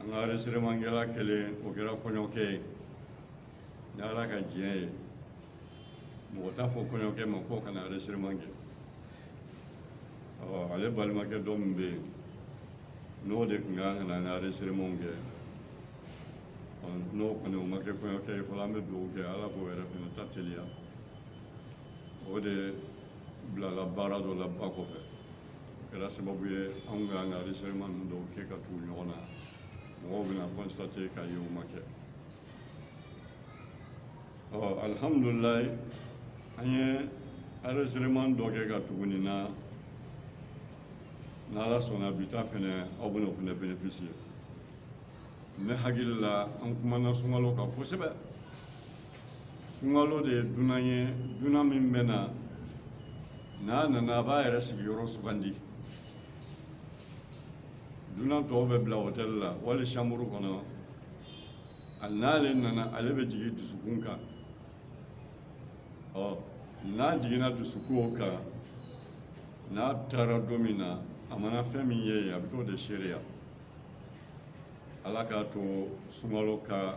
an ka enregistrementkɛla kelen o kɛra kɔɲɔkɛ ye ni ala ka diɲɛ ye mɔgɔ t'a fɔ kɔɲɔkɛ ma ko ka na enregistrement kɛ ale balimakɛ dɔ min bɛ yen n'o de tun ka kan ka na an ka enregistrementw kɛ n'o kɔni o ma kɛ kɔɲɔkɛ ye fɔlɔ an bɛ dugawu kɛ ala k'o yɛrɛ fana ta teliya o de bilala baara dɔ la ba kɔfɛ kɛra sababu ye anw ka an ka enregistrement ninnu dɔw kɛ ka tugu ɲɔgɔn na mɔgɔw bɛna constater k'a ye o ma kɛ ɔ alihamudulilayi an ye enregistrement dɔ kɛ ka tugu nin na n'ala sɔnna bi ta fɛnɛ aw bɛna o fɛnɛ bénéficier ne hakili la an kumana sunkalo kan kosɛbɛ sunkalo de ye dunan ye dunan min bɛ na n'a nana a b'a yɛrɛ sigiyɔrɔ sugandi dunan tɔw bɛ bila hôtel la wali chambre kɔnɔ a n'ale nana ale bɛ jigin dusukun kan ɔ n'a jiginna dusukun kan n'a taara don min na a mana fɛn min ye a bɛ t'o de seereya ala k'a to sunkalo ka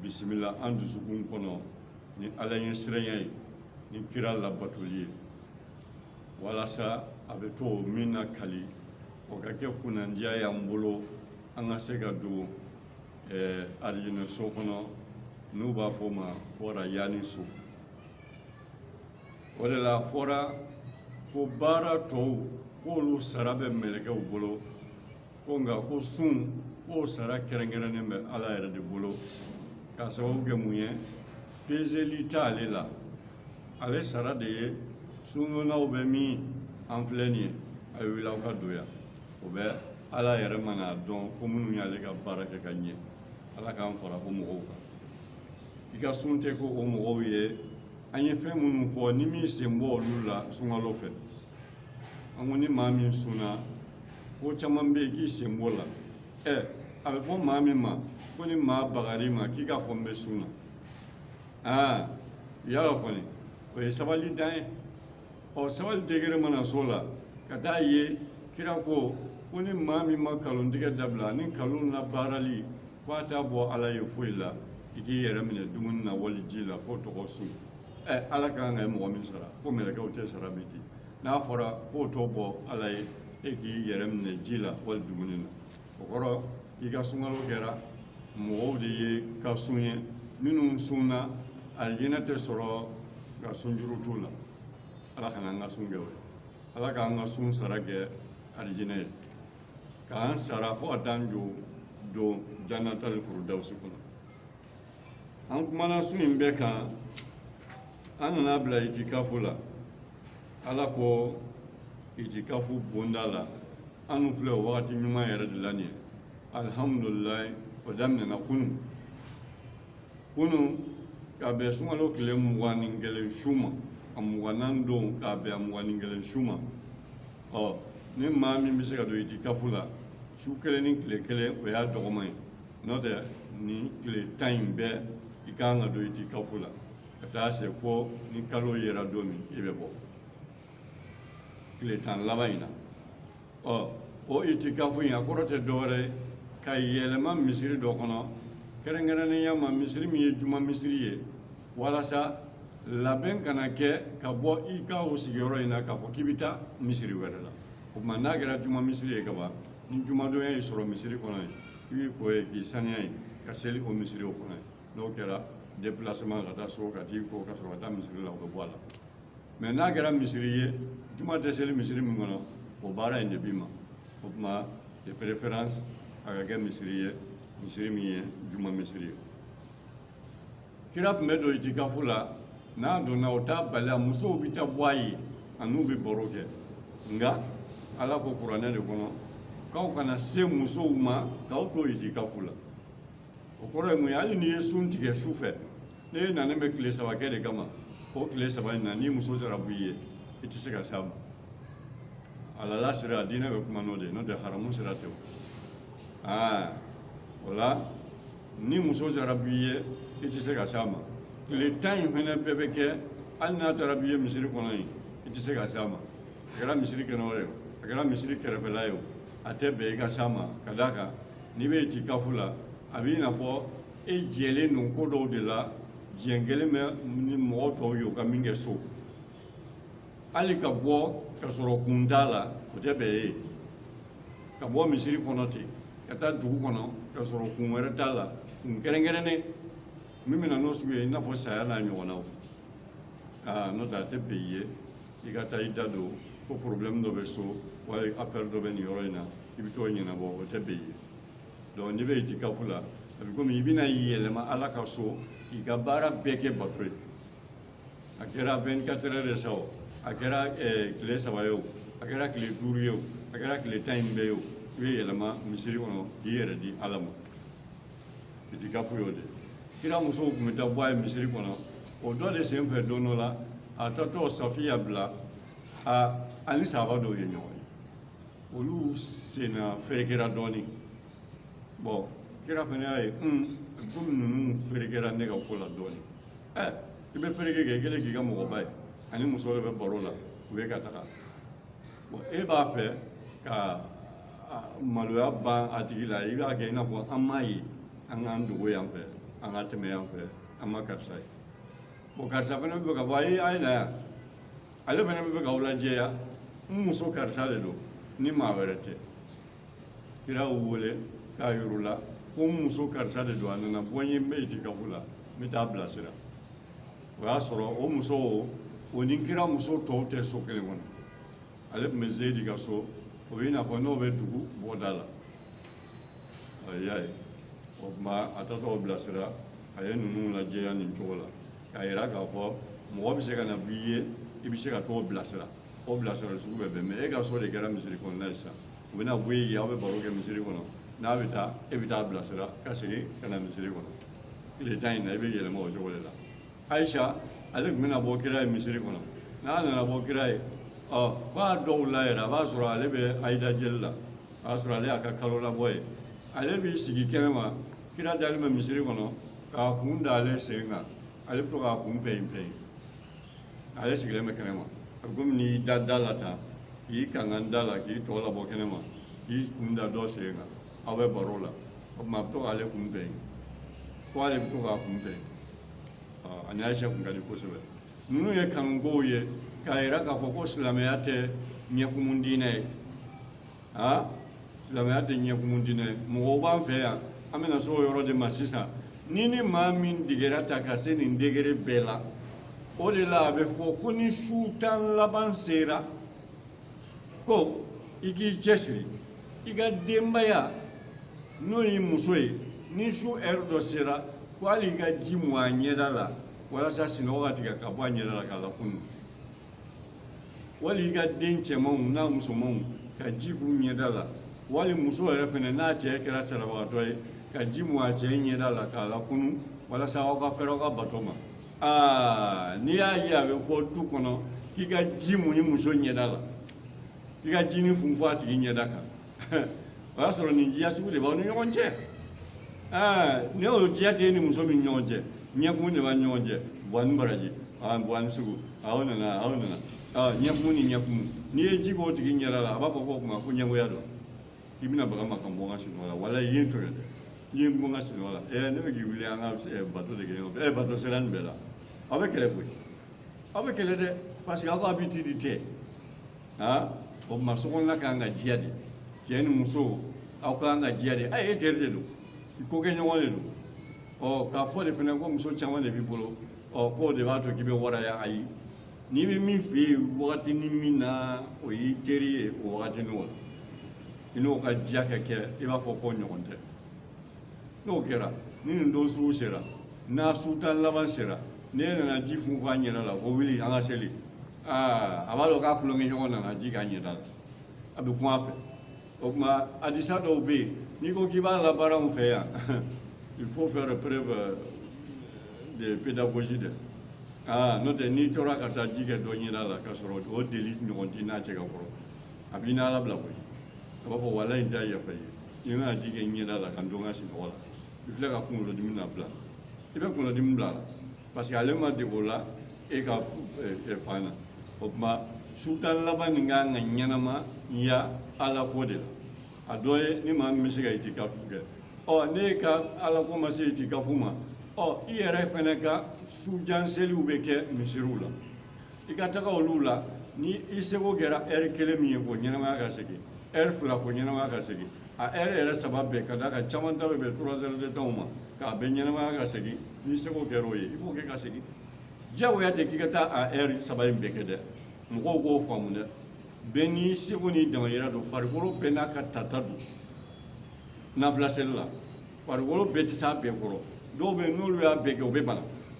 bisimila an dusukun kɔnɔ ni ala ɲɛsiranya ye ni kira labatoli ye walasa a bɛ t'o min lakali o ka kɛ kunnandiya y'an bolo an ka se ka don eh, alijinɛ so kɔnɔ n'u b'a fɔ o ma ko rayani so o de la a fɔra ko baara tɔw k'olu sara bɛ mɛlɛkɛw bolo ko nka ko sun k'o sara kɛrɛnkɛrɛnnen bɛ ala yɛrɛ de bolo k'a sababu kɛ mun ye pezeli t'ale la ale sara de ye sundonnaw bɛ min an filɛ nin ye a ye wuli aw ka don yan o bɛ ala yɛrɛ mana a dɔn ko minnu y'ale ka baara kɛ ka ɲɛ ala k'an fara o mɔgɔw kan i ka sun tɛ ko o mɔgɔw ye an ye fɛn minnu fɔ n'i m'i sen bɔ olu la sunkalo fɛ an ko ni maa min sunna ko caman bɛ yen k'i sen b'o la ɛ a bɛ fɔ maa min ma ko ni maa bagar'i ma k'i k'a fɔ n bɛ sun na aa yala kɔni o ye sabali dan ye ɔ sabali degré mana s'o la ka taa ye kira ko ko ni maa min ma nkalon tigɛ dabila ni nkalon na baarali ko a t'a bɔ ala ye foyi la i k'i yɛrɛ minɛ dumuni na wali ji la fo tɔgɔ sun ala ka kan ka ye mɔgɔ min sara ko mɛlɛkɛw tɛ sara bɛ di n'a fɔra k'o t'o bɔ ala ye e k'i yɛrɛ minɛ ji la wali dumuni na o kɔrɔ k'i ka sunkalo kɛra mɔgɔw de ye ka sun ye minnu sunna alijinɛ tɛ sɔrɔ ka sunjuru t'u la ala kana an ka sun kɛ o ye ala k'an ka sun sara kɛ alijinɛ ye k'an sara fo ka t'an don janatali furudawusi kɔnɔ an kumana su in bɛɛ kan an nana bila itikafu la ala ko itikafu bonda la anu filɛ o wagati ɲuman yɛrɛ de la nin ye alihamudulilayi o daminɛna kunu kunu ka bɛn sunkalo tile mugan ni kelen su ma a mugannan don k'a bɛn a mugan ni kelen su ma ɔ ni maa min bɛ se ka don itikafu la su kelen ni tile kelen o y'a dɔgɔman ye n'o tɛ nin tile tan in bɛɛ i ka kan ka don itikafu la ka taa se fo ni kalo yera don min i bɛ bɔ tile tan laban in na ɔ o itikafu in a kɔrɔ tɛ dɔwɛrɛ ye ka yɛlɛma misiri dɔ kɔnɔ kɛrɛnkɛrɛnnenya ma misiri min ye juma misiri ye walasa labɛn kana kɛ ka bɔ i ka o sigiyɔrɔ in na k'a fɔ k'i bɛ taa misiri wɛrɛ la o tuma n'a kɛra juma misiri ye ka ban ni jumadonya y'i sɔrɔ misiri kɔnɔ yen i b'i ko ye k'i saniya yen ka seli o misiri o kɔnɔ yen n'o kɛra déplacement ka taa so ka t'i ko ka sɔrɔ ka taa misiri la o bɛ bɔ a la mais n'a kɛra misiri ye juma tɛ seli misiri min kɔnɔ o baara in de b'i ma o tuma de préférence a ka kɛ misiri ye misiri min ye juma misiri ye kira tun bɛ don itikafu la n'a donna o t'a bali a musow bɛ taa bɔ a ye a n'u bɛ baro kɛ nka ala ko kuranɛ de kɔnɔ k'aw kana se musow ma k'aw to itikafu la o kɔrɔ ye mun ye hali n'i ye sun tigɛ su fɛ n'e nanen bɛ tile saba kɛ de kama o tile saba in na ni muso taara b'i ye i tɛ se ka s'a ma halala sira a diinɛ bɛ kuma n'o de ye n'o tɛ haramu sira tɛ o aa o la ni muso taara b'i ye i tɛ se ka s'a ma tile tan in fana bɛɛ bɛ kɛ hali n'a taara b'i ye misiri kɔnɔ yen i tɛ se ka s'a ma a kɛra misiri kɛnɛ wɛrɛ ye o a kɛra misiri kɛrɛfɛla ye o a tɛ bɛn i ka s'a ma ka d'a kan n'i bɛ itikafu la a b'i n'a fɔ e jɛlen don ko dɔw de la jɛn kɛlen bɛ ni mɔgɔ tɔw ye u ka min kɛ so hali ka bɔ ka sɔrɔ kun t'a la o tɛ bɛn i ye ka bɔ misiri kɔnɔ ten ka taa dugu kɔnɔ ka sɔrɔ kun wɛrɛ t'a la kun kɛrɛnkɛrɛnnen min bɛ na n'o sugu ye i n'a fɔ saya n'a ɲɔgɔnnaw aa n'o tɛ a tɛ bɛn i ye i ka taa i da don ko porobilɛmu dɔ bɛ so wali afɛri dɔ bɛ nin yɔrɔ in na i bɛ t'o ɲɛnabɔ o tɛ bɛn i ye donc n'i bɛ itikafu la a bɛ komi i bɛna yɛlɛma ala ka so k'i ka baara bɛɛ kɛ bato ye a kɛra 24 heures de sa o a kɛra tile saba ye o a kɛra tile duuru ye o a kɛra tile tan in bɛɛ ye o i bɛ yɛlɛma misiri kɔnɔ k'i yɛrɛ di ala ma itikafu y'o de kira musow tun bɛ taa bɔ a ye misiri kɔnɔ o dɔ de sen fɛ don dɔ la a tatɔ safiya bila a ni sahaba dɔw ye ɲɔgɔn ye olu senna ferekera dɔɔnin bon kira fana y'a ye komi ninnu ferekera ne ka ko la dɔɔnin i bɛ fereke kɛ i kɛlen k'i ka mɔgɔba ye ani muso de bɛ baro la u bɛ ka taga bon e b'a fɛ ka maloya ban a tigi la i b'a kɛ i n'a fɔ an m'a ye an k'an dogo yan fɛ an ka tɛmɛ yan fɛ an ma karisa ye bon karisa fana b'a fɛ k'a fɔ a ye na yan ale fana b'a fɛ k'aw lajɛya n muso karisa de don ni maa wɛrɛ tɛ kira y'u wele k'a yir'u la ko n muso karisa de don a nana bɔ n ye n bɛ itikafu la n bɛ taa bilasira o y'a sɔrɔ o muso o ni kira muso tɔw tɛ so kelen kɔnɔ ale tun bɛ zeyidi ka so o bɛ i n'a fɔ n'o bɛ dugu bɔda la i y'a ye o tuma a tatɔ bilasira a ye ninnu lajɛya nin cogo la k'a yira k'a fɔ mɔgɔ bɛ se ka na b'i ye i bɛ se ka t'o bilasira o bilasirali sugu bɛɛ bɛn mɛ e ka so de kɛra misiri kɔnɔna ye sisan u bɛ na bɔ i ye aw bɛ baro kɛ misiri kɔnɔ n'a bɛ taa e bɛ taa bilasira ka segin ka na misiri kɔnɔ tile tan in na i bɛ yɛlɛma o cogo de la ayisa ale tun bɛ na bɔ kira ye misiri kɔnɔ n'a nana bɔ kira ye ɔ f'a dɔw la yɛrɛ a b'a sɔrɔ ale bɛ hayida jeli la a b'a sɔrɔ ale y'a ka kalolabɔ ye ale b'i sigi kɛnɛ ma kira dalen bɛ misiri kɔnɔ k'a kun da ale sen kan ale bɛ to k'a kun pɛyin pɛyin ale sigilen bɛ kɛnɛ ma a bɛ komi n'i da da la tan k'i kankan da la k'i tɔ labɔ kɛnɛ ma k'i kun da dɔ sen kan aw bɛ baro la o tuma a bɛ to k'ale kun pɛyin fo ale bɛ to k'a kun pɛyin a ni ayisa tun ka di kosɛbɛ ninnu ye kanukow ye k'a yira k'a fɔ ko silamɛya tɛ ɲɛkumu diinɛ ye aa silamɛya tɛ ɲɛkumu diinɛ ye mɔgɔw b'an fɛ yan an bɛna s'o yɔrɔ de ma sisan ni ni maa min degere ta ka se nin degere bɛɛ la o de la a bɛ fɔ ko ni su tan laban sera ko i k'i cɛsiri i ka denbaya n'o y'i muso ye ni su ɛri dɔ sera ko hali i ka ji mun a ɲɛda la walasa sinɔgɔ ka tigɛ ka bɔ a ɲɛda la k'a lakunu wali i ka den cɛmanw n'a musomanw ka ji k'u ɲɛda la wali muso yɛrɛ fɛnɛ n'a cɛ kɛra salabagatɔ ye ka ji mun a cɛ ɲɛda la k'a lakunu walasa aw ka fɛrɛ aw ka bato ma aa n'i y'a ye a bɛ fɔ du kɔnɔ k'i ka ji mun i muso ɲɛda la i ka jinin funfun a tigi ɲɛda kan o y'a sɔrɔ nin diya sugu de b'aw ni ɲɔgɔn cɛ ɛɛ ni o diya t'i ni muso min ɲɔgɔn cɛ ɲɛkun de b'a ni ɲɔgɔn cɛ buwa ni baraji aa buwa ni sugu aw nana aw nana aa ɲɛkun ni ɲɛkun n'i ye ji k'o tigi ɲɛda la a b'a fɔ ko o tuma ko ɲɛngoya don i bɛna baga n ma ka n bɔ n ka sunɔgɔ la walayi n to yen dɛ i ye n bɔ n ka sunɔgɔ la ɛɛ ne bɛ k'i wuli an ka ɛɛ, bato de kɛ ɲɔgɔn fɛ ɛɛ bato sera nin bɛɛ la aw bɛ kɛlɛ koyi aw bɛ kɛlɛ dɛ parce que aw ka habitude tɛ aa o tuma so kɔnɔna ka kan ka diya de cɛ ni muso aw ka kan ka diya de e teri de don i kokɛɲɔgɔn de don ɔ k'a fɔ de fana ko muso caman de b'i bolo ɔ k'o de b'a to k'i bɛ waraya ayi n'i bɛ min fɛ yen wagati ni min na o y'i teri ye o wagati n'o la i n'o ka diya ka kɛ i b'a fɔ k'o ɲɔgɔn tɛ n'o kɛra ni nin don sugu sera n'a su tan laban sera n'e nana ji funfun a ɲɛda la ko wuli an ka seli aa a b'a dɔn k'a tulonkɛ ɲɔgɔn nana ji k'a ɲɛda la a bɛ kuma a fɛ o tuma hadisa dɔw bɛ yen n'i ko k'i b'a labaara anw fɛ yan il faut faire preuve euh, de pédagogie dɛ aa n'o tɛ n'i tora ka taa ji kɛ dɔ ɲɛda la k'a sɔrɔ o deli ɲɔgɔn t'i n'a cɛ ka kɔrɔ a b'i n'ala bila koyi a b'a fɔ walayi n t'a yafa i ye n'i ka ji kɛ n ɲɛda la ka n to n ka sinɔgɔ la i filɛ ka kunkolodimi na bila i bɛ kunkolodimi bila a la Parce que ale ma dege o la e ka fan na o tuma su tan laban nin ka kan ka ɲɛnamaya ala ko de la a dɔ ye ni maa min bɛ se ka itikafu kɛ ɔ n'i ka ala ko ma se itikafu ma ɔ i yɛrɛ fana ka sujan seliw bɛ kɛ misiriw la i ka taga olu la ni i seko kɛra ɛri kelen min ye k'o ɲɛnamaya ka segin ɛri fila k'o ɲɛnamaya ka segin a ɛri yɛrɛ saba bɛɛ ka d'a kan caman ta bɛ bɛn trois heures de temps ma k'a bɛɛ ɲɛnamaya ka segin n'i seko kɛra o ye i b'o kɛ ka segin diyagoya tɛ k'i ka taa a ɛri saba in bɛɛ kɛ dɛ mɔgɔw k'o faamu dɛ bɛɛ n'i seko n'i damayira don farikolo bɛɛ n'a ka tata don nafila seli la farikolo bɛɛ tɛ s'a bɛɛ kɔrɔ dɔw bɛ yen n'olu y'a bɛɛ kɛ u bɛ bana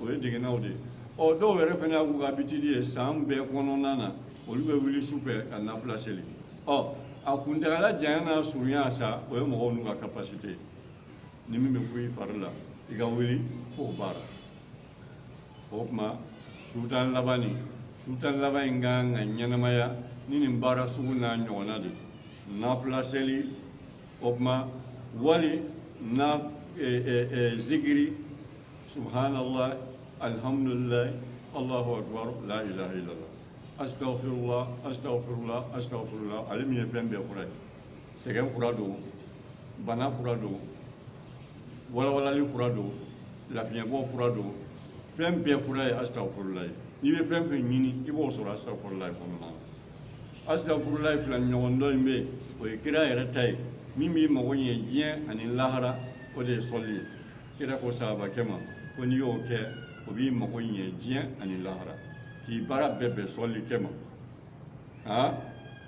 o ye degennaw de ye ɔ dɔw yɛrɛ fana y'a k'u ka habitude ye san bɛɛ kɔnɔna na olu bɛ wuli su fɛ ka nafila seli ɔ a kuntagala janya n'a surunya sa o ye mɔgɔw n'u ka capacité ye ni min bɛ kun i fari la i ka wuli k'o baara o tuma su tan laban nin su tan laban in kan ka ɲɛnamaya ni nin baara sugu n'a ɲɔgɔnna de nafila seli o tuma walima eh, eh, eh, zikiri Subhanallah, alhamdulillah, Allahu akbar, la ilaha illallah. Astaghfirullah, astaghfirullah, astaghfirullah. Ale min ye fɛn bɛɛ fura ye. Sɛgɛn fura don, bana fura don, walawalali fura don, lafiɲɛbɔ fura don. Fɛn bɛɛ fura ye astaghfirullah ye. N'i bɛ fɛn fɛn ɲini, i b'o sɔrɔ astaghfirullah kɔnɔna na. Astaghfirullah fila ɲɔgɔn dɔ in bɛ yen, o ye kira yɛrɛ ta ye. Min b'i mago ɲɛ diɲɛ ani lahara, o de ye sɔli ye. kira ko sahabakɛ ma ko n'i y'o kɛ o b'i mago ɲɛ diɲɛ ani lahara k'i baara bɛɛ bɛn sɔli kɛ ma aa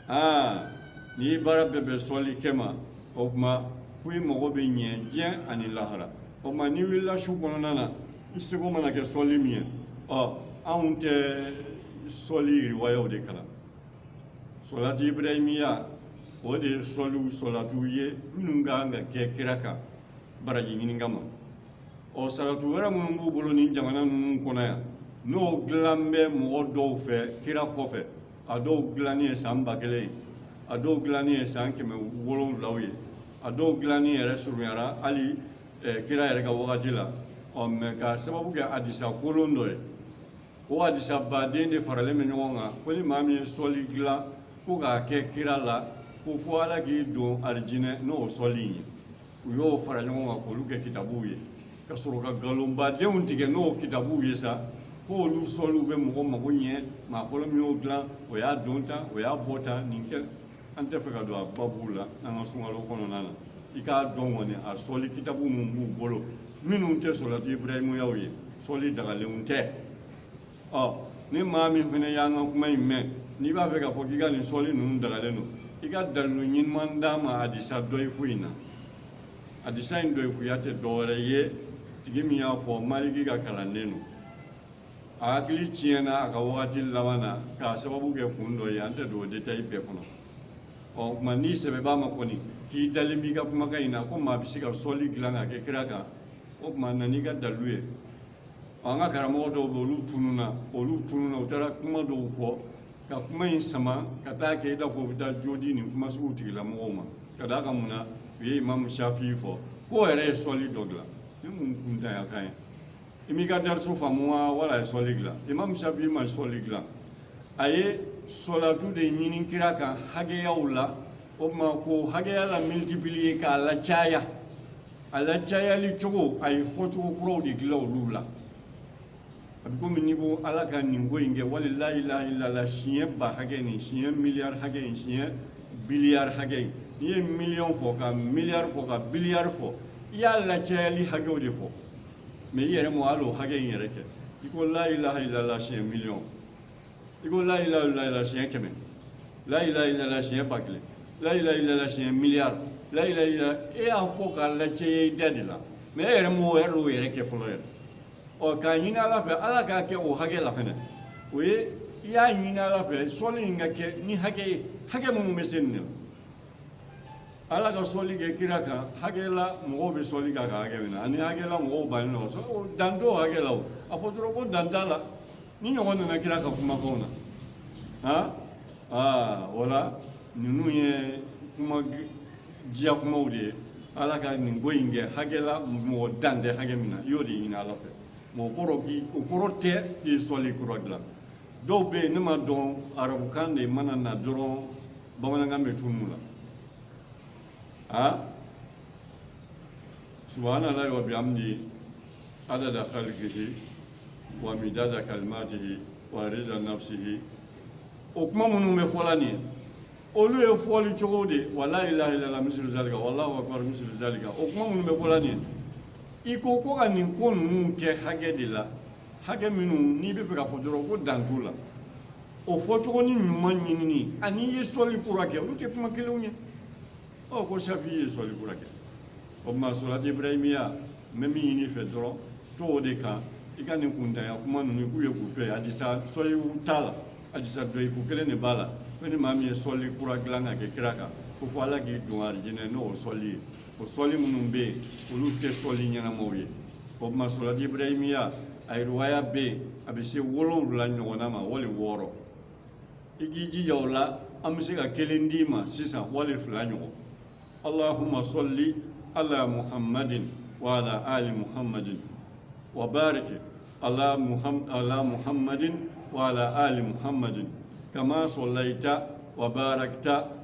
aa n'i ye baara bɛɛ bɛn sɔli kɛ ma o tuma ko i mago bɛ ɲɛ diɲɛ ani lahara o tuma n'i wulila su kɔnɔna na i seko mana kɛ sɔli min ye ɔ anw tɛ sɔli riwayaw de kalan sɔlati ibrahimiya o de ye sɔliw sɔlatiw ye minnu ka kan ka kɛ kira kan baraji ɲini kama ɔ salatu wɛrɛ minnu b'u bolo nin jamana ninnu kɔnɔ yan n'o dilan bɛ mɔgɔ dɔw fɛ kira kɔfɛ a dɔw dilanni ye san ba kelen ye a dɔw dilanni ye san kɛmɛ wolonwulaw ye a dɔw dilanni yɛrɛ surunyara hali eh, kira yɛrɛ ka wagati la ɔ mɛ k'a sababu kɛ hadisa kolon dɔ ye o hadisa baden de faralen bɛ ɲɔgɔn kan ko ni maa min ye sɔli dilan ko k'a kɛ kira la ko fo ala k'i don arijinɛ n'o sɔli ye u y'o fara ɲɔgɔn kan k'olu kɛ kitabuw ye ka sɔrɔ ka nkalon badenw tigɛ n'o kitabuw ye sa k'olu sɔliw bɛ mɔgɔ mago ɲɛ maa fɔlɔ min y'o dilan o y'a don tan o y'a bɔ tan nin kɛ an tɛ fɛ ka don a babuw la an ka sunkalo kɔnɔna na i k'a dɔn kɔni a sɔli kitabu min b'u bolo minnu tɛ sɔlati ibrahimiyaw ye sɔli dagalenw tɛ ɔ ni maa min fana y'an ka kuma in mɛn n'i b'a fɛ k'a fɔ k'i ka nin sɔli ninnu dagalen don i ka dalilu ɲuman d'an ma hadisa dɔyifu in na hadisa in dɔyifuya tɛ dɔwɛrɛ ye tigi min y'a fɔ maliki ka kalanden don a hakili tiɲɛna a ka wagati laban na k'a sababu kɛ kun dɔ ye an tɛ don o détail bɛɛ kɔnɔ ɔ o tuma n'i sɛbɛ b'a ma kɔni k'i dalen b'i ka kumakan in na ko maa bɛ se ka sɔli dilan k'a kɛ kira kan o tuma na n'i ka dalilu ye ɔ an ka karamɔgɔ dɔw bɛ olu tununna olu tununna u taara kuma dɔw fɔ ka kuma in sama ka taa kɛ i n'a fɔ u bɛ taa jo di nin kuma sugu tigilamɔgɔw ma ka d'a kan mun na u ye imamu shafi fɔ k'o yɛrɛ ye sɔli dɔ dilan ni mun kuntanya kan ye i m'i ka dariso faamu wa wala a ye sɔli dilan imam shafi ma sɔli dilan a ye sɔlatu de ɲini kira kan hakɛyaw la o tuma k'o hakɛya la multiplier k'a lacaya a lacayali cogo a ye fɔcogo kuraw de dilan olu la a bɛ komi n'i ko ala ka nin ko in kɛ wali la ilaha illallah siɲɛ ba hakɛ nin siɲɛ miliyari hakɛ in siɲɛ biliyari hakɛ in n'i ye miliyɔn fɔ ka miliyari fɔ ka biliyari fɔ i y'a lacayali hakɛw de fɔ mɛ i yɛrɛ ma hali o hakɛ in yɛrɛ kɛ i ko la ilaha ilala siɲɛ miliyɔn i ko la ilaha ilala siɲɛ kɛmɛ la ilaha ilala siɲɛ ba kelen la ilaha ilala siɲɛ miliyari la ilaha ilala e y'a fɔ k'a lacaya i da de la mɛ e yɛrɛ m'o yɛrɛ kɛ fɔlɔ yɛrɛ ɔ k'a ɲini ala fɛ ala k'a kɛ o hakɛ la fɛnɛ o ye i y'a ɲini ala fɛ sɔli in ka kɛ ni hakɛ ye hakɛ minnu bɛ se nin de la ala ka sɔli kɛ kira kan hakɛ la mɔgɔw bɛ sɔli k'a kan hakɛ min na ani hakɛ la mɔgɔw bannen don sɔli o dan t'o hakɛ la o a fɔ dɔrɔn ko dan t'a la nin ɲɔgɔn nana kira ka kumakanw na han aa o la ninnu ye kuma diya kumaw de ye ala ka nin ko in kɛ hakɛ la mɔgɔ dan tɛ hakɛ min na i y'o de ɲini ala fɛ mɛ o kɔrɔ k'i o kɔrɔ tɛ k'i ye sɔli kura dilan dɔw bɛ yen ne m'a dɔn arabukan de mana na dɔrɔn bamanankan bɛ tunun u la subhanallahi wa bihamdihi adada khalqihi wa midada kalimatihi wa rida nafsihi o kuma minnu bɛ fɔla nin ye olu ye fɔli cogo de ye wa la ilaha illallah mislu zalika wallahu akbar mislu zalika o kuma minnu bɛ fɔla nin ye i ko ko ka nin ko ninnu kɛ hakɛ de la hakɛ minnu n'i bɛ fɛ ka fɔ dɔrɔn ko dan t'u la o fɔcogo ni ɲuman ɲinini ani i ye sɔli kura kɛ olu tɛ kuma kelenw ye ɔ ko safi ye sɔli kura kɛ o tuma sɔlati ibrahimiya n bɛ min ɲini i fɛ dɔrɔn to o de kan i ka nin kuntanya kuma ninnu k'u ye k'u to yen hadisa sɔhihu t'a la hadisa dɔyifu kelen de b'a la ko ni maa min ye sɔli kura dilan ka kɛ kira kan ko fo ala k'i don alijinɛ n'o sɔli ye o sɔli minnu bɛ yen olu tɛ sɔli ɲɛnamaw ye o tuma sɔlati ibrahimiya a riwaya bɛ yen a bɛ se wolonwula ɲɔgɔnna ma wali wɔɔrɔ i k'i jija o la an bɛ se ka kelen d'i ma sisan wali fila ɲɔgɔn allahumma salli ala muhammadin wa ala ali muhammadin wa barik ala muhammadin wa ala ali muhammadin kama sallaita wa barakta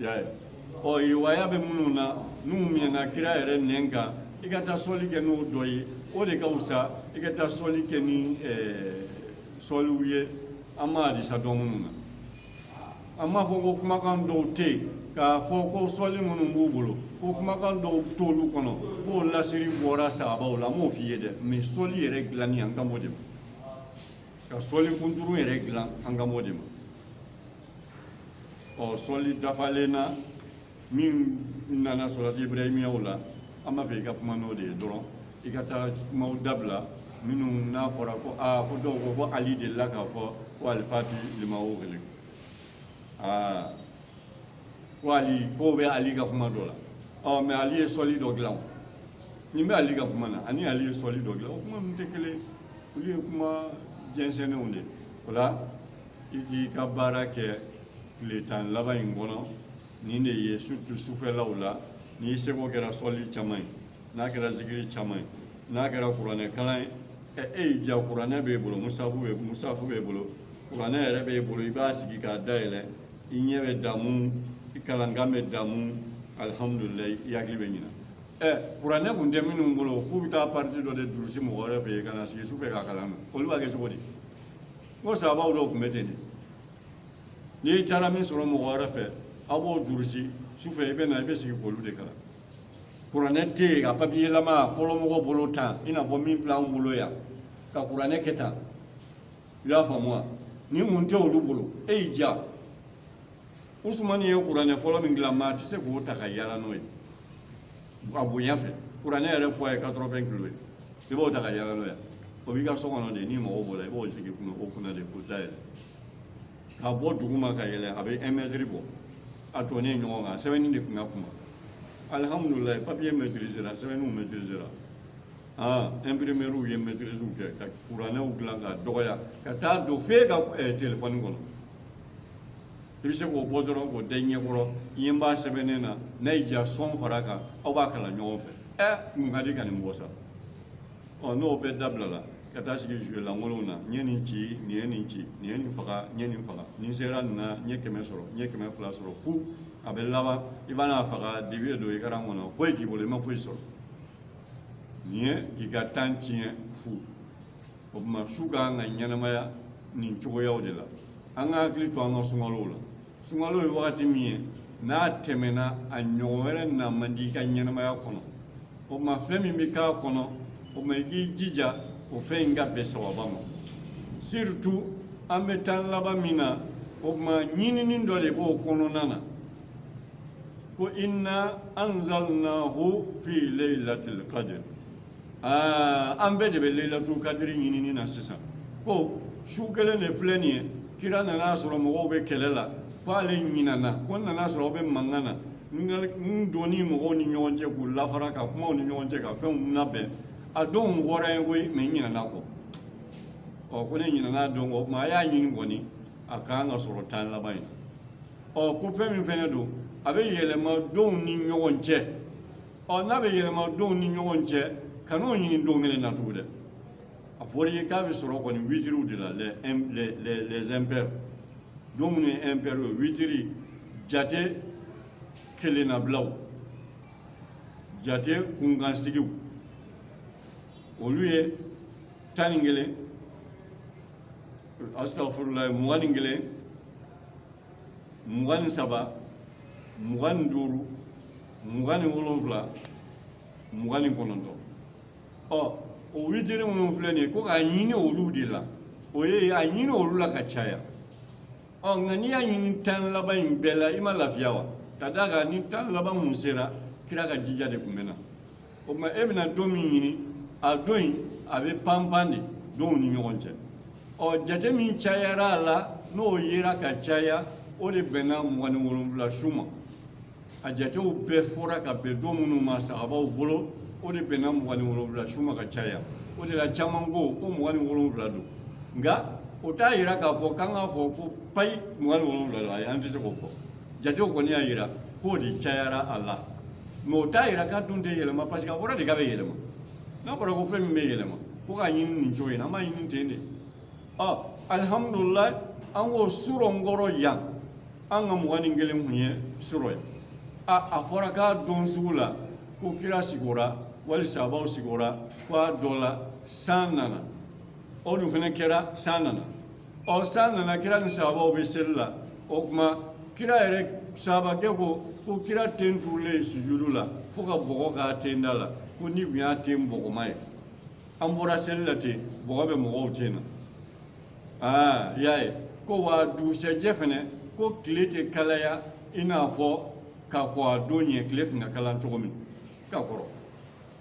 y'a ye ɔ riwaya bɛ minnu na n'u mɛnna kira yɛrɛ nɛn kan i ka taa sɔli kɛ n'o dɔ ye o de ka fisa i ka taa sɔli kɛ ni sɔliw ye an ma hadisa dɔn minnu na an m'a fɔ ko kumakan dɔw tɛ yen k'a fɔ ko sɔli minnu b'u bolo ko kumakan dɔw t'olu kɔnɔ k'o lasiri bɔra sahabaw la an m'o f'i ye dɛ mɛ sɔli yɛrɛ dilanni an kan b'o de ma ka sɔli kunturu yɛrɛ dilan an kan b'o de ma ɔ sɔli dafalen na min nana sɔlati ibrahimiyaw la an b'a fɛ i ka kuma n'o de ye dɔrɔn i ka taa kumaw dabila minnu n'a fɔra ko aa ko dɔw ko ko ali delila k'a fɔ ko alifati limawo kelen aa ko ali ko bɛ ali ka kuma dɔ la ɔ mɛ ali ye sɔli dɔ dilan o nin bɛ ali ka kuma na ani ali ye sɔli dɔ dilan o kuma ninnu tɛ kelen ye olu ye kuma jɛnsɛnnenw de ye o la i k'i ka baara kɛ tile tan laban in kɔnɔ nin de ye surtout sufɛlaw la n'i seko kɛra sɔli caman ye n'a kɛra zikiri caman ye n'a kɛra kuranɛ kalan ye ɛ e y'i ja kuranɛ b'e bolo musafu b'e musafu b'e bolo kuranɛ yɛrɛ b'e bolo i b'a sigi k'a dayɛlɛ i ɲɛ bɛ damu i kalankan bɛ damu alihamudulilayi i hakili bɛ ɲina ɛ kuranɛ kun tɛ minnu bolo f'u bɛ taa pariti dɔ de durusi mɔgɔ wɛrɛ fɛ yen ka na sigi sufɛ k'a kalan olu b'a kɛ cogo di n ko sahabaw dɔw tun bɛ ten de n'i taara min sɔrɔ mɔgɔ wɛrɛ fɛ aw b'o durusi sufɛ i bɛ na i bɛ sigi k'olu de kalan kuranɛ tɛ yen ka papiyelama fɔlɔ mɔgɔ bolo tan i n'a fɔ min filɛ anw bolo yan ka kuranɛ kɛ tan i y'a faamu wa nin tun tɛ olu bolo e y'i ja usumani ye kuranɛ fɔlɔ min dilan maa tɛ se k'o ta ka yala n'o ye a bonya fɛ kuranɛ yɛrɛ poids ye quatre-vingts kilo ye i b'o ta ka yala n'o ye o b'i ka so kɔnɔ de n'i mago b'o la i b'o sigi kunna o kunna de k'o dayɛlɛ ka bɔ duguma ka yɛlɛ a bɛ un mètre bɔ a tonnen ɲɔgɔn kan sɛbɛnni de tun ka kunba alihamudulilayi papiye mɛtirisera sɛbɛnniw mɛtirisera aa ɛnpirimɛriw ye mɛtirisiw kɛ ka kuranɛw dilan ka dɔgɔya ka taa don f'e ka telefɔni kɔnɔ i bɛ se k'o bɔ dɔrɔn k'o da i ɲɛ kɔrɔ i ɲɛ b'a sɛbɛnnen na n'a y'i diya sɔn fara kan aw b'a kalan ɲɔgɔn fɛ ɛ mun ka di ka nin bɔ sa ɔ n'o bɛɛ dabilala ka taa sigi zuwe lankolonw na n ye nin ci nin ye nin ci nin ye nin faga n ye nin faga nin sera nin na n ye kɛmɛ sɔrɔ n ye kɛmɛ fila sɔrɔ fu a bɛ laban i bɛ n'a faga dibi ye don écran kɔnɔ foyi t'i bolo i ma foyi sɔrɔ nin ye k'i ka temps tiɲɛ fu o tuma su ka kan ka ɲɛnamaya nin cogoyaw de la an ka hakili to an ka sunkalow la sunkalo ye wagati min ye n'a tɛmɛna a ɲɔgɔn wɛrɛ na man di i ka ɲɛnamaya kɔnɔ o tuma fɛn min bɛ k'a kɔnɔ o tuma i k'i jija o fɛn in ka bɛn sawaba ma surtout an bɛ tan laban min na o tuma ɲinini dɔ de b'o kɔnɔna na ko inna anzalnahu fi laylatil qadr aa an bɛɛ de bɛ leyilatul kadiri ɲinini na sisan ko su kelen de filɛ nin ye kira nan'a sɔrɔ mɔgɔw bɛ kɛlɛ la ko ale ɲinana ko n nan'a sɔrɔ aw bɛ mankan na n ka- n donni mɔgɔw ni ɲɔgɔn cɛ k'u lafara ka kuma u ni ɲɔgɔn cɛ ka fɛnw labɛn a don fɔra n ye koyi mɛ n ɲinana a kɔ ɔ ko ne ɲinana a don kɔ o tuma a y'a ɲini kɔni a kan ka sɔrɔ tan laban ye ɔ ko fɛn min fɛnɛ don a bɛ yɛlɛma donw ni ɲɔgɔn cɛ ɔ n'a bɛ yɛlɛma donw ni ɲɔgɔn cɛ kan'o ɲini don kelen na tugun dɛ a fɔra i ye k'a bɛ sɔrɔ kɔni witiriw de la les im- les- les- les impairs don minnu ye impairs ye witiri jate kelennabilaw jate kunkansigiw olu ye tan ni kelen asitafurulayi mugan ni kelen mugan ni saba mugan ni duuru mugan ni wolonwula mugan ni kɔnɔntɔn ɔ o witiri minnu filɛ nin ye ko k'a ɲini olu de la o ye a ɲini olu la ka caya ɔ nka n'i y'a ɲini tan laban in bɛɛ la i ma lafiya wa ka d'a kan ni tan laban tun sera kira ka jija de tun bɛ na o tuma e bɛna don min ɲini a don in a bɛ panpan de donw ni ɲɔgɔn cɛ ɔ jate min cayara a la n'o yera ka caya o de bɛnna mugan ni wolonwula su ma a jatew bɛɛ fɔra ka bɛn don minnu ma sahabaw bolo o de bɛnna mugan ni wolonwula su ma ka caya o de la caman ko ko mugan ni wolonwula don nka o t'a yira k'a fɔ k'an k'a fɔ ko payi mugan ni wolonwula don ayi an tɛ se k'o fɔ jatew kɔni y'a yira k'o de cayara a la mɛ o t'a yira k'a dun tɛ yɛlɛma parce que a fɔra de k'a bɛ yɛlɛma n'a fɔra ko fɛn min bɛ yɛlɛma ko k'a ɲini nin cogo in na an b'a ɲini ten de ɔ alihamudulilayi an k'o surɔ n kɔrɔ yan an ka mugan ni kelen kun ye surɔ ye a a fɔra k'a don sugu la ko kira sigora wali sahabaw sigora ko a dɔ la san nana o dun fana kɛra san nana o san nana kira ni sahabaw bɛ seli la o kuma kira yɛrɛ sahabakɛ ko ko kira ten turulen sujudu la fo ka bɔgɔ k'a ten da la ko ne tun y'a ten bɔgɔma ye an bɔra seli la ten bɔgɔ bɛ mɔgɔw ten na aa y'a ye ko wa dugusɛjɛ fɛnɛ ko tile tɛ kalaya i n'a fɔ ka kɔn a don ɲɛ tile tun ka kalan cogo min ka kɔrɔ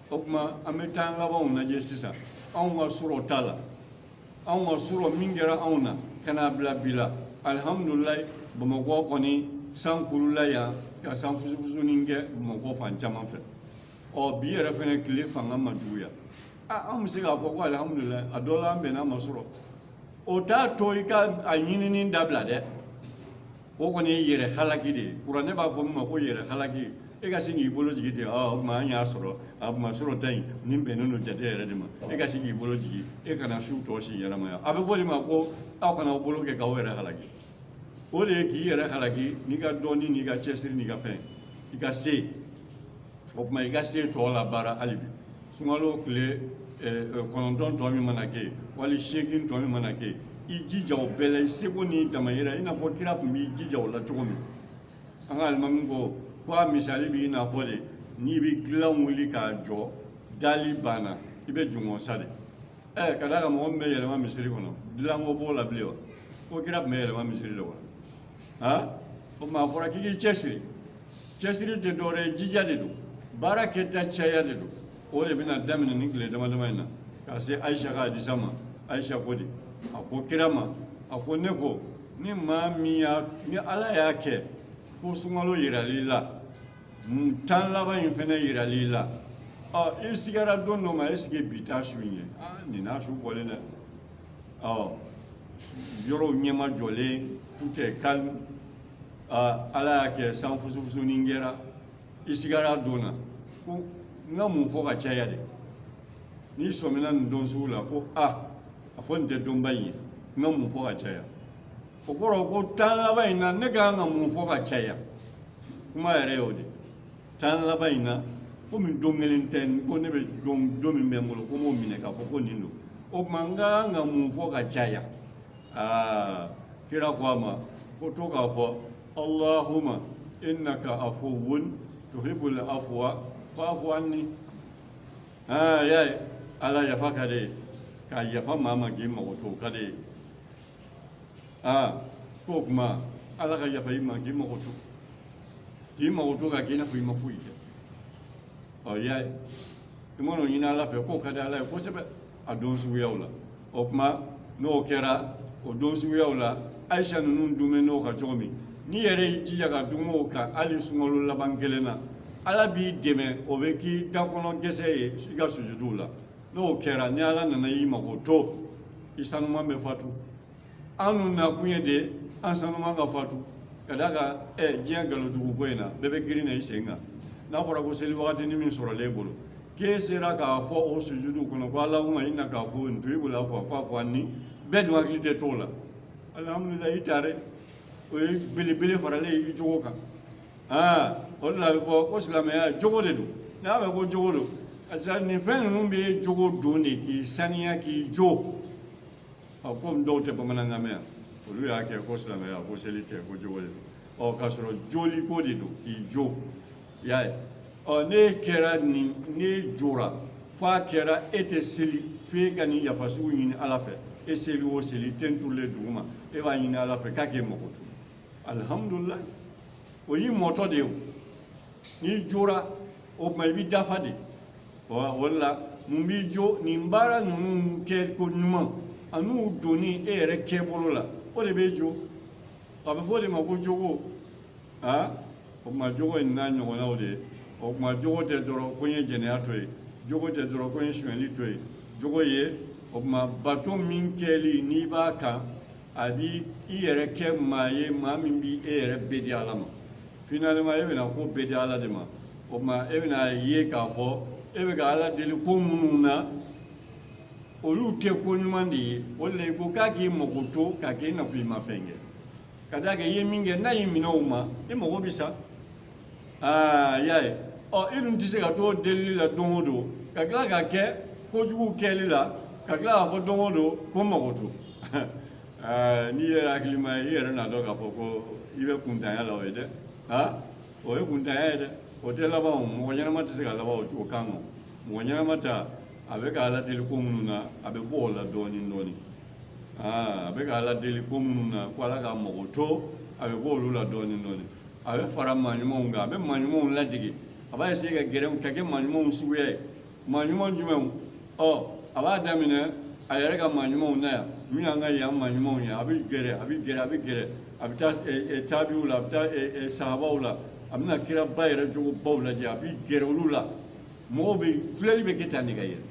o tuma an bɛ tan labanw lajɛ sisan anw ka surɔ ta la anw ka surɔ min kɛra anw na ka n'a bila bi la alihamudulilayi bamakɔ kɔni san kulula yan ka san fusufusunin kɛ bamakɔ fan caman fɛ ɔ bi yɛrɛ fɛnɛ tile fanga ma juguya a an bɛ se k'a fɔ ko alihamudulilayi a dɔ la an bɛnn'a ma surɔ o t'a to i ka a ɲinini dabila dɛ o kɔni ye yɛrɛ halaki de ye kuranɛ b'a fɔ min ma ko yɛrɛ halaki e ka sin k'i bolo jigin ten ɔ o tuma an y'a sɔrɔ a tuma sɔrɔta in nin bɛnnen don jate yɛrɛ de ma e ka sin k'i bolo jigin e kana su tɔ si ɲɛnamaya a bɛ f'o de ma ko aw kana aw bolo kɛ k'aw yɛrɛ halaki o de ye k'i yɛrɛ halaki n'i ka dɔnni n'i ka cɛsiri n'i ka fɛn i ka se o tuma i ka se tɔ la baara hali bi sunkalo tile kɔnɔntɔn tɔ min mana kɛ yen wali seegin tɔ min mana kɛ yen i jija o bɛɛ la i seko n'i damayira i n'a fɔ kira tun b'i jija o la cogo min an ka alimami ko ko a misali b'i n'a fɔ de n'i bɛ gilan wuli k'a jɔ dali banna i bɛ jingɔn sa de ɛɛ ka d'a kan mɔgɔ min bɛ yɛlɛma misiri kɔnɔ dilanko b'o la bilen wa ko kira tun bɛ yɛlɛma misiri de kɔnɔ han o tuma a fɔra k'i k'i cɛsiri cɛsiri tɛ dɔwɛrɛ ye jija de don baara kɛta caya de don o de bɛna daminɛ nin tile dama dama in na ka se ayisa ka hadisa ma ayisa ko di a ko kira ma a ko ne ko ni maa min y'a ni ala y'a kɛ ko sunkalo yiral'i la tan laban in fana yiral'i la ɔ i sigara don dɔ ma esike bi t'a su in ye aa nin n'a su bɔlen dɛ ɔ yɔrɔw ɲɛmajɔlen tout est calme ala y'a kɛ san fusufusunin kɛra i sigara don na ko n ka mun fɔ ka caya de n'i sɔmina nin don sugu la ko a a fɔ nin tɛ donba in ye n ka mun fɔ ka caya o kɔrɔ ko tan laban in na ne ka kan ka mun fɔ ka caya kuma yɛrɛ y'o de tan laban in na komi don kelen tɛ ko ne bɛ don don min bɛ n bolo ko n b'o minɛ k'a fɔ ko nin don o tuma n ka kan ka mun fɔ ka caya aa kira ko a ma ko to k'a fɔ alahuma innaka afuwun tuhibul afuwa fa'fu anni aa y'a ye ala yafa ka d'i ye ka yafa maa ma k'i mago to o ka d'i ye aa ko o kuma ala ka yafa i ma k'i mago to k'i mago to ka k'i n'a fɔ i ma foyi kɛ ɔ i y'a ye i mana o ɲini ala fɛ k'o ka di ala ye kosɛbɛ a don suguyaw la o kuma n'o kɛra o don suguyaw la ayisa ninnu duumɛn'o kan cogo min n'i yɛrɛ y'i jija ka duum'o kan hali sunkalo laban kelen na ala b'i dɛmɛ o bɛ k'i dakɔnɔ gɛsɛ ye i ka sujuduw la n'o kɛra ni ala nana i mago to i sanuman bɛ fatu an dun nakun ye de an sanuman ka fatu ka d'a kan ɛ diɲɛ nkalon dugu ko in na bɛɛ bɛ girin na i sen kan n'a fɔra ko seli wagatinin min sɔrɔlen e bolo k'e sera k'a fɔ o sujudu kɔnɔ ko alahuma innaka afuwun tuhibul afuwa fa'fu anni bɛɛ dun hakili tɛ t'o la alihamudulilayi ta dɛ o ye belebele faralen i jogo kan o de la a bɛ fɔ ko silamɛya jogo de don n'a mɛn ko jogo don karisa nin fɛn ninnu bɛ jogo don de k'i saniya k'i jo ɔ komi dɔw tɛ bamanankan mɛn yan olu y'a kɛ ko silamɛya ko seli tɛ ko jogo de don ɔ k'a sɔrɔ joliko de don k'i jo i y'a ye ɔ n'e kɛra nin n'e jora f'a kɛra e tɛ seli f'e ka nin yafa sugu ɲini ala fɛ e seli o seli ten turulen duguma e b'a ɲini ala fɛ k'a k'e mago to alihamudulilayi o y'i mɔtɔ de ye o n'i jora o tuma i b'i dafa de o de la mun b'i jo nin baara ninnu kɛ ko ɲuman an'u donni e yɛrɛ kɛbolo la o de b'e jo a bɛ fɔ o de ma ko jogo aa o tuma jogo in n'a ɲɔgɔnnaw de ye o tuma jogo tɛ dɔrɔn ko n ye jɛnɛya to yen jogo tɛ dɔrɔn ko n ye sonyali to yen jogo ye o tuma bato min kɛli n'i b'a kan a bi i yɛrɛ kɛ maa ye maa min bi e yɛrɛ bɛɛ di ala ma finalement e bɛna ko bɛɛ di ala de ma o tuma e bɛna ye k'a fɔ e bɛ ka ala deli ko minnu na olu tɛ ko ɲuman de ye o de la i ko k'a k'i mago to k'a kɛ i n'a fɔ i ma fɛn kɛ ka d'a kan i ye min kɛ n'a y'i minɛ o ma i mago bɛ sa i y'a ye ɔ i dun tɛ se ka to delili la don o don ka tila ka kɛ kojugu kɛli la ka tila k'a fɔ don o don ko n mago to aa n'i yɛrɛ hakilima ye i yɛrɛ n'a dɔn k'a fɔ ko i bɛ kuntanya la o ye dɛ ha o ye kuntanya ye dɛ o tɛ laban o mɔgɔ ɲɛnama tɛ se ka laban o cogo kan o mɔgɔ ɲɛnama ta a bɛ k'ala deli ko minnu na a bɛ bɔ o la dɔɔnin dɔɔnin aa a bɛ k'ala deli ko minnu na ko ala k'a mago to a bɛ bɔ olu la dɔɔnin dɔɔnin a bɛ fara maa ɲumanw kan a bɛ maa ɲumanw ladege a b'a essayer ka gɛrɛ ka kɛ maa ɲumanw suguya ye maa ɲuman jumɛnw ɔ a b'a daminɛ a yɛrɛ ka maa ɲumanw na yan min y'an ka yan maa ɲumanw ye a bɛ gɛrɛ a bɛ gɛrɛ a bɛ gɛrɛ a bɛ taa taabiw la a bɛ taa sahabaw la a bɛna kiraba yɛrɛ jogobaw lajɛ a bɛ gɛrɛ olu la mɔgɔw bɛ filɛli bɛ kɛ tan de ka yɛlɛ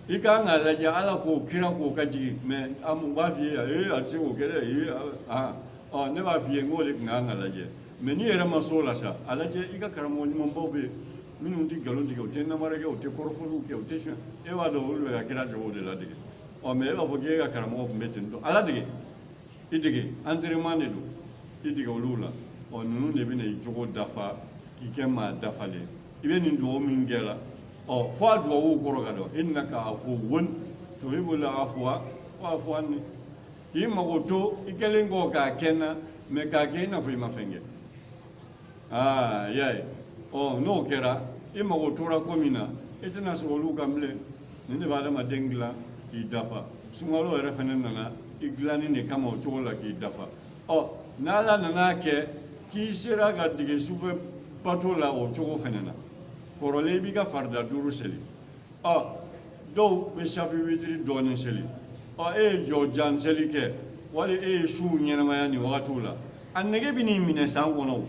i ka kan k'a lajɛ ala ka kira k'o ka jigin mɛ an u b'a f'i ye ee a tɛ se k'o kɛ dɛ ee aa ɔ ne b'a f'i ye n k'o de tun ka kan ka lajɛ mɛ n'i yɛrɛ ma s'o la sa a lajɛ i ka karamɔgɔ ɲumanbaw bɛ yen minnu tɛ nkalon tigɛ u tɛ namara kɛ u tɛ kɔrɔfɔliw kɛ u tɛ sɔn e b'a dɔn olu bɛ ka kira jogo de ladege ɔ mɛ e b'a fɔ k'e ka karamɔgɔ tun bɛ ten tɔ a ladege i dege entraînement de don i dege olu la ɔ ninnu de bɛna i jogo dafa k'i kɛ maa dafalen i bɛ nin dugawu min kɛ la ɔ fo a duwawu kɔrɔ ka dɔn innaka afuwwun tuhibbul afwa fa'fu anni k'i magoto i kɛlen kɔ k'a kɛ n na mɛ k'a kɛ i n'a fɔ i ma fɛn kɛ aa i y'a ye ɔ n'o kɛra i magotora ko min na i tɛna sɔrɔ olu kan bilen nin de bɛ adamaden dilan k'i dafa sunkalo yɛrɛ fana nana i dilanni de kama o cogo la k'i dafa ɔ n'ala nan'a kɛ k'i sera ka dege sufɛ bato la o cogo fana na kɔrɔlen i b'i ka farida duuru seli ɔ dɔw bɛ safi witiri dɔɔnin seli ɔ e ye jɔ jan seli kɛ wali e ye su ɲɛnamaya nin wagatiw la a nege bɛn'i minɛ san kɔnɔ o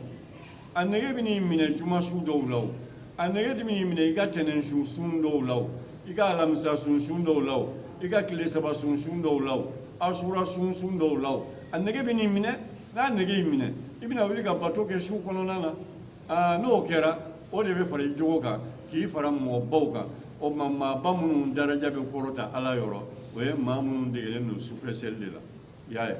a nege bɛn'i minɛ juma su dɔw la o a nege bɛn'i minɛ i ka tɛnɛn sun su dɔw la o i ka alamisa sun su dɔw la o i ka tile saba sun su dɔw la o asura sun su dɔw la o a nege bɛn'i minɛ n'a nege y'i minɛ i bɛna wuli ka bato kɛ su kɔnɔna na aa n'o kɛra o de bɛ fara i jogo kan k'i fara mɔgɔbaw kan o tuma maaba minnu daraja bɛ kɔrɔta ala yɔrɔ o ye maa minnu degelen don sufɛseli de la i y'a ye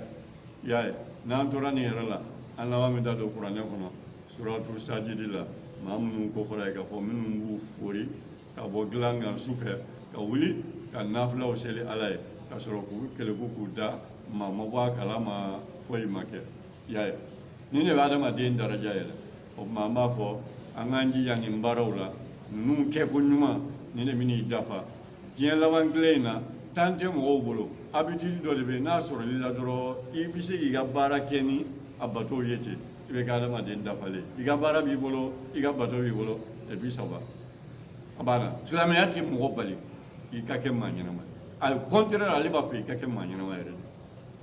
i y'a ye n'an tora nin yɛrɛ la an laban bɛ taa don kuranɛ kɔnɔ suratul sajidi la maa minnu kofɔra yen k'a fɔ minnu b'u fori ka bɔ dilan kan su fɛ ka wuli ka nafilaw seli ala ye ka sɔrɔ k'u keleku k'u da maa ma bɔ a kalama foyi ma kɛ i y'a ye nin de bɛ adamaden daraja yɛlɛ o tuma an b'a fɔ an k'an jija nin baaraw la ninnu kɛko ɲuman nin de bɛna i dafa diɲɛ laban tile in na temps tɛ mɔgɔw bolo habitude dɔ de bɛ yen n'a sɔrɔl'i la dɔrɔn i bɛ se k'i ka baara kɛ ni a batow ye ten i bɛ kɛ adamaden dafalen i ka baara b'i bolo i ka bato b'i bolo et puis ça va a banna silamɛya tɛ mɔgɔ bali i ka kɛ maa ɲɛnama ye au contraire ale b'a fɔ i ka kɛ maa ɲɛnama yɛrɛ de